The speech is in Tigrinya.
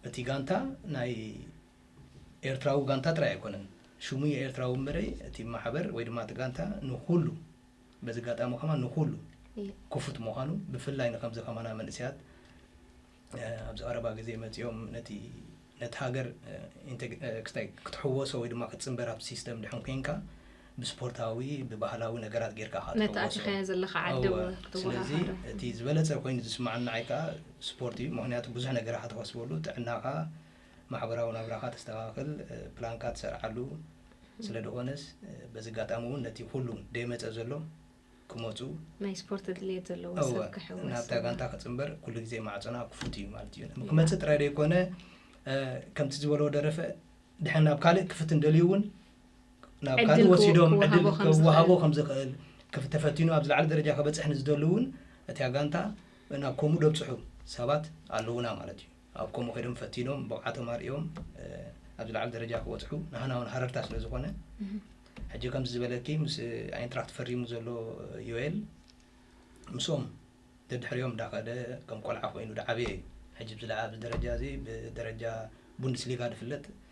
እቲ ጋንታ ናይ ኤርትራዊ ጋንታ ጥራይ ኣይኮነን ሽሙ የኤርትራዊ እምበረ እቲ ማሕበር ወይ ድማ እቲ ጋንታ ንኹሉ በዚ ኣጋጣሚ ከማ ንኹሉ ክፉት ምዃኑ ብፍላይ ንከምዚ ከማና መንእሰያት ኣብዚ ቀረባ ግዜ መጺኦም ነቲ ነቲ ሃገር ክስታይ ክትሕወሶ ወይ ድማ ክትጽንበር ኣብቲ ሲስተም ድሕን ኮንካ ብስፖርታዊ ብባህላዊ ነገራት ጌርካ ኢኻ ነቲ ትሕወሶ። ኣቲኻዮ ዘለኻ ዓዲ ኣዎ እውን ስለዚ ክትወሃሃዶ። እቲ ዝበለጸ ኮይኑ ዝስምዓኒ ንዓይ ከኣ ስፖርት እዩ ምኽንያቱ ብዙሕ ነገር ኢኻ ተኸስበሉ ጥዕናኻ ማሕበራዊ ናብራኻ ተስተኻኽል ፕላንካ ትሰርዓሉ ስለ ድኾነስ በዚ ኣጋጣሚ እውን ነቲ ኩሉ ደይመጸ ዘሎ ክመጹ ናይ ስፖርት ድልየት ዘለዎ እወ፣ ሰብ ክሕወስ ናብታ ጋንታ ክጽንበር ኩሉ ግዜ ማዕጾና ክፉት እዩ ማለት እዩ ክመጽእ ጥራይ ዘይኮነ እ፣ ከምቲ ዝበሎ ደረፈ ድሕን ናብ ካልእ ክፍትን ደልዩ እውን ናብ ዕድል ካልእ ክወ- ወሲዶም ክወሃቦ ዕድል ከም ዝኽእል። ክወሃቦ ከም ዝኽእል ክፍ- ተፈቲኑ ኣብ ዝለዓለ ደረጃ ከበጽሕ ንዝደሉ እውን እታ ጋንታ ናብ ከምኡ ደብጽሑ ሰባት ኣለውና ማለት እዩ ኣብ ከምኡ ከይዶም ፈቲኖም ብቕዓቶም ኣርእዮም ኣብ ዝለዓለ ደረጃ ክበፅሑ ንሃና ውን ሃረርታ ስለ ዝኾነ ሕጂ ከምዚ ዝበለኪ ምስ ኣይንትራክት ፈሪሙ ዘሎ ዮኤል ምስኦም ደድሕሪኦም ዳኸደ ከም ቆልዓ ኮይኑ ዳዓበየ እዩ ሕጂ ብዚ ደረጃ እዚ ብደረጃ ቡንድስሊጋ ድፍለጥ